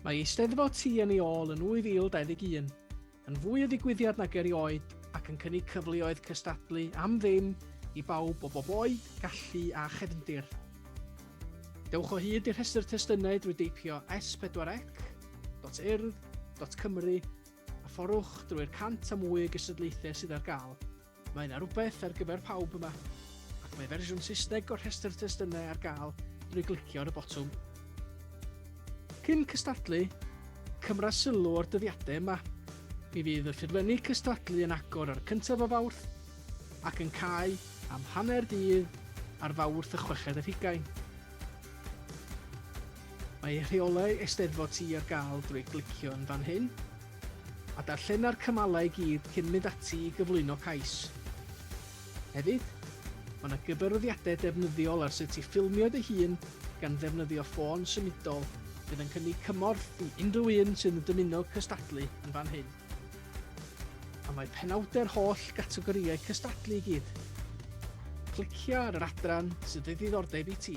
Mae Eisteddfod Ti yn ei ôl yn 2021, yn fwy o ddigwyddiad nag erioed ac yn cynnig cyfleoedd cystadlu am ddim i bawb o bob oed, gallu a chefndir. Dewch o hyd i'r rhestr testunau drwy deipio s4c.urdd.cymru a fforwch drwy'r cant a mwy o gystadlaethau sydd ar gael. Mae yna rhywbeth ar gyfer pawb yma, ac mae fersiwn Saesneg o'r rhestr testunau ar gael drwy glicio ar y botwm. Cyn cystadlu, cymra sylw o'r dyddiadau yma. Mi fydd y ffurflenni cystadlu yn agor ar y cyntaf o Fawrth ac yn cau am hanner dydd ar Fawrth y chweched ar hugain. Mae rheolau Eisteddfod Ti ar gael drwy glicio yn fan hyn. A darllena'r cymalau i gyd cyn mynd ati i gyflwyno cais. Hefyd, mae yna gyfarwyddiadau defnyddiol ar sut i ffilmio dy hun gan ddefnyddio ffôn symudol fydd yn cynnig cymorth i unrhyw un sydd yn dymuno cystadlu yn fan hyn. A mae penawdau'r holl gategorïau cystadlu i gyd. Clicia ar yr adran sydd o ddiddordeb i ti.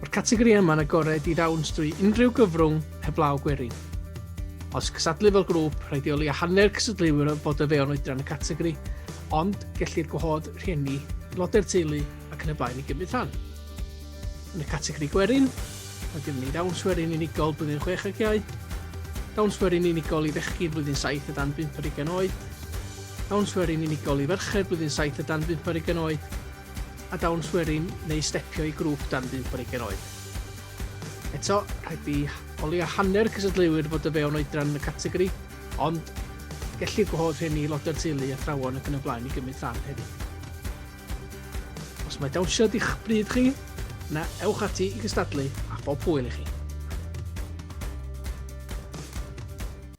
Mae'r categori yma yn agored i ddawns drwy unrhyw gyfrwng heblaw gwerin. Os cysadlu fel grŵp, rhaid i oleu a hanner cysadleuwyr fod o fewn oedran y categori, ond gellir gwahodd rhieni, aelodau'r teulu ac yn y blaen i gymryd rhan. Yn y categori gwerin, mae gennym ni ddawns werin unigol blwyddyn 6 ag iau, dawns werin unigol i fechgyn blwyddyn 7 a dan 5 ar ugain oed, dawns werin unigol i ferched blwyddyn 7 a dan 5 ar ugain oed, a dawnswerin neu stepio i grŵp dan 15 oed. Eto, rhaid i o leia hanner cystadleuwyr fod o fewn oedran y categori, ond gellir gwahodd rhieni, aelodau'r teulu, athrawon ac yn y blaen i gymryd rhan hefyd. Os mae dawnsio di'ch bryd chi, na ewch ati i gystadlu a phob hwyl i chi.